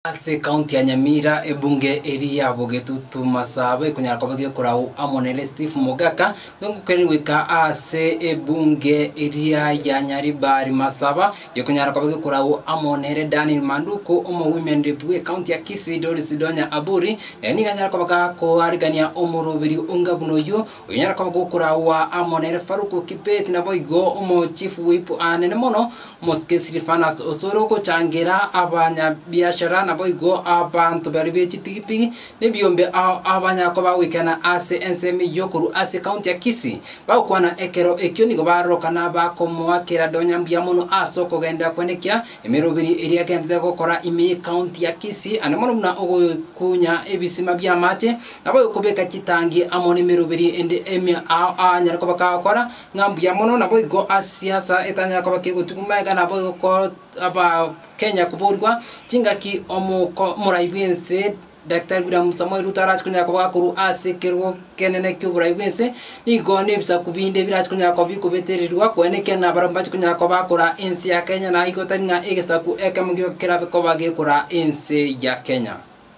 Ase ekaunti ya Nyamira, ebunge eria ya Bogetutu Masaba ekonyara koba gekorao amo nere Steve Mogaka, gegokeniri goika ase ebunge eria ya Nyaribari Masaba, gekonyara koba gekorao amo nere Daniel Manduku, omo women rep bw'ekaunti ya Kisii Doris Donya Aburi, naye nigo anyare koba gakoarigania omorobiri onga buna oyio, Onyare koba gokoraua amo nere Faruku Kibet naboigo omochifu whip anene mono omosike Silifanus osore ogochangera abanyabiashara naboigo abanto baria be chipigipigi nebiombe ao abanyare koba bagoikena ase ensemo eyio korwa ase County ya Kisii bagokwana ekero ekio nigo baroroka na bakomoa kerade onye mbuya mono ase okogenda kwenekia emeroberi eria agendete gokora ime ye County ya Kisii ande mono buna ogokunya ebisima biamache Naboigo kobeka chitangi amo nemeroberi ende emia ao aanyare koba kagokora ng'a mbuya mono, naboigo ase siasa etanyare koba kegotugwa magega naboigo ko abakenya koborwa chingaki omoko omorai bwense Daktari William Samoei Ruto arache konyara koba akorwa ase ekerogo kenene ki'oborai bwense, nigo na ebisaku binde birache konyara koba bikobetererigwa kwene ekiagera nabarabwo mbache konyara koba bakora ense ya Kenya naigo tari ng'a egesaku ekemo gioka kerabe koba gekoraa ense ya Kenya.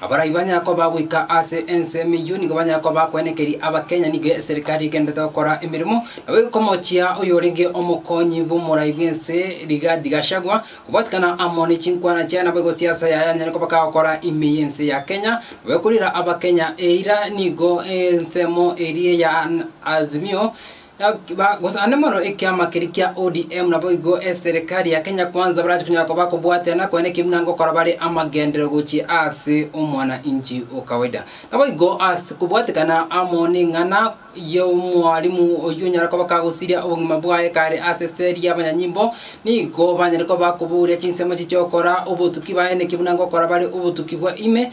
Abarai banya koba goika ase ense emeyio nigo banya koba kwenekeria Abakenya nigo eserikari egenderete gokora emeremo nabo egokomochia oyorenge omokonyi bw'omorai bw'ense Rigathi Gachagua kobwatikana amo ne chinkwana chiaye nabo egosiasa yaye anyare koba kagokora ime y'ense ya Kenya nabo ekorira Abakenya eira nigo ensemo eria ya Azimio Gosana mono ekiama keria kia ODM naboigo eserekari ya Kenya Kwanza barache konyara koba kobwaterana kwene ki buna gokora bare amagenderero gochia ase omwana inchi o kawaida. Naboigo ase kobwatekana amo neng'ana y'omwalimu oyio onyare koba kagosiria obogima bwaye kare ase eseri y'abanyanyimbo nigo banyare koba bakobouria chinsemo chichia okora obotuki baye naki buna gokora bare obotuki bwa ime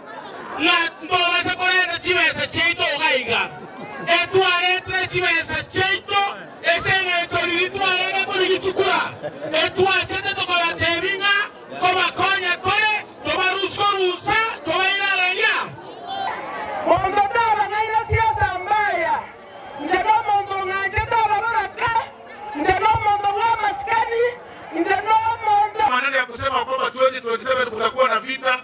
ng'a mbobase korenta chibesa chiaito iga iga. Etwaretire chibesa chiaito ase engencho riria twarenge korigichukura, etwachete tokabatebia ng'a kobakonya kore tobarusie korusa tobairareria. Monto tarang'aina siasa mbaya, inche nomonto ong'anchete ababoraka, inche nomonto bw'amasikani, inche nomonto. Omonene akosemao koma 2027 Kutakuwa na vita